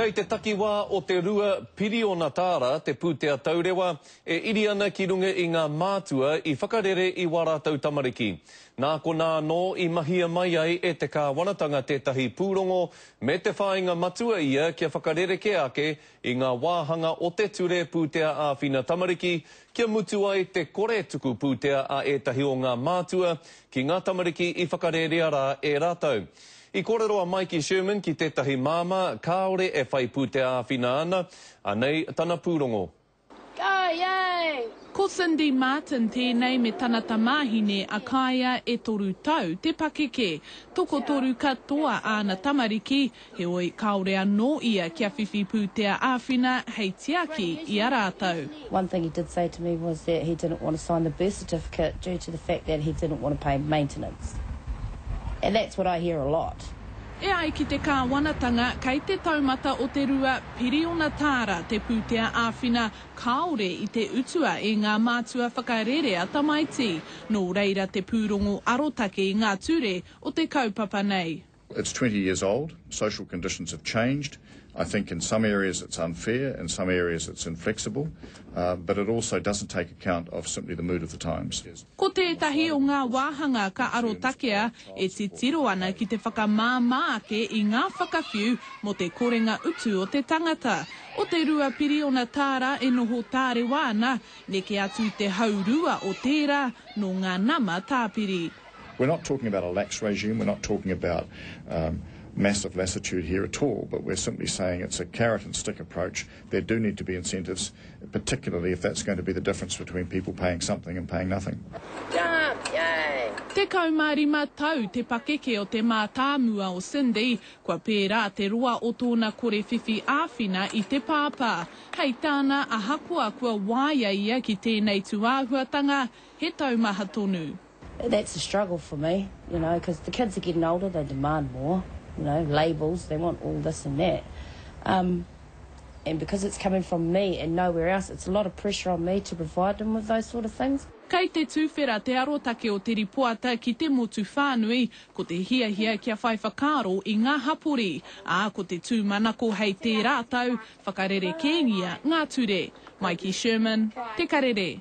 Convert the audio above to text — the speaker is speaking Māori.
Kei te takiwā o te rua piriona tāra te pūtea taurewa e iri ana ki runga i ngā mātua i whakarere i wā rātou tamariki. Nā konā anō i mahia mai ai e te kāwanatanga tētahi pūrongo me te whāinga matua ia kia whakarerekē ake i ngā wāhanga o te Ture Pūtea Āwhina Tamariki kia mutu ai te kore tuku pūtea a ētahi o ngā mātua ki ngā tamariki i whakarērea rā e rātou. I kōrero a Maiki Sherman ki tētahi māmā kāore e whai pūtea āwhina ana, anei tana pūrongo. Kaea! Ko Cindy Martin tēnei me tana tamāhine a Kaea e toru tau te pakeke. Tokotoru katoa āna tamariki, heoi kāore anō ia kia whiwhi pūtea āwhina hei tiaki i a rātou. One thing he did say to me was that he didn't want to sign the birth certificate due to the fact that he didn't want to pay maintenance. And that's what I hear a lot. E ai ki te Kāwanatanga, kei te taumata o te rua piriona tāra te pūtea āwhina kāore i te utua e ngā mātua whakarerea tamaiti. Nō reira te pūrongo arotake i ngā ture o te kaupapa nei. It's twenty years old, social conditions have changed, I think in some areas it's unfair, in some areas it's inflexible, but it also doesn't take account of simply the mood of the times. Ko tētahi o ngā wāhanga ka arotakea e titiro ana ki te whakamāmā ake i ngā whakawhiu mō te korenga utu o te tangata. O te rua piriona tāra e noho tārewa ana, neke atu i te haurua o tērā nō ngā nama tāpiri. We're not talking about a lax regime, we're not talking about massive lassitude here at all, but we're simply saying it's a carrot and stick approach, there do need to be incentives, particularly if that's going to be the difference between people paying something and paying nothing. Tekau mā rima tau te pakeke o te mātāmua o Cindy, kua pērā te roa o tōna kore whiwhi āwhina i te pāpā. Hei tāna, ahakoa kua waia ia ki tēnei tūāhuatanga, he taumaha tonu. That's a struggle for me, you know, because the kids are getting older, they demand more, you know, labels, they want all this and that. Um, and because it's coming from me and nowhere else, it's a lot of pressure on me to provide them with those sort of things. Kei te tuwhera te arotake o te ripoata ki te motu whānui, ko te hiahia kia whai whakaaro i ngā hapori, ā, ko te tūmanako hei tērā tau, whakarerekēngia ngā ture. Mai ki Sherman, Te Karere.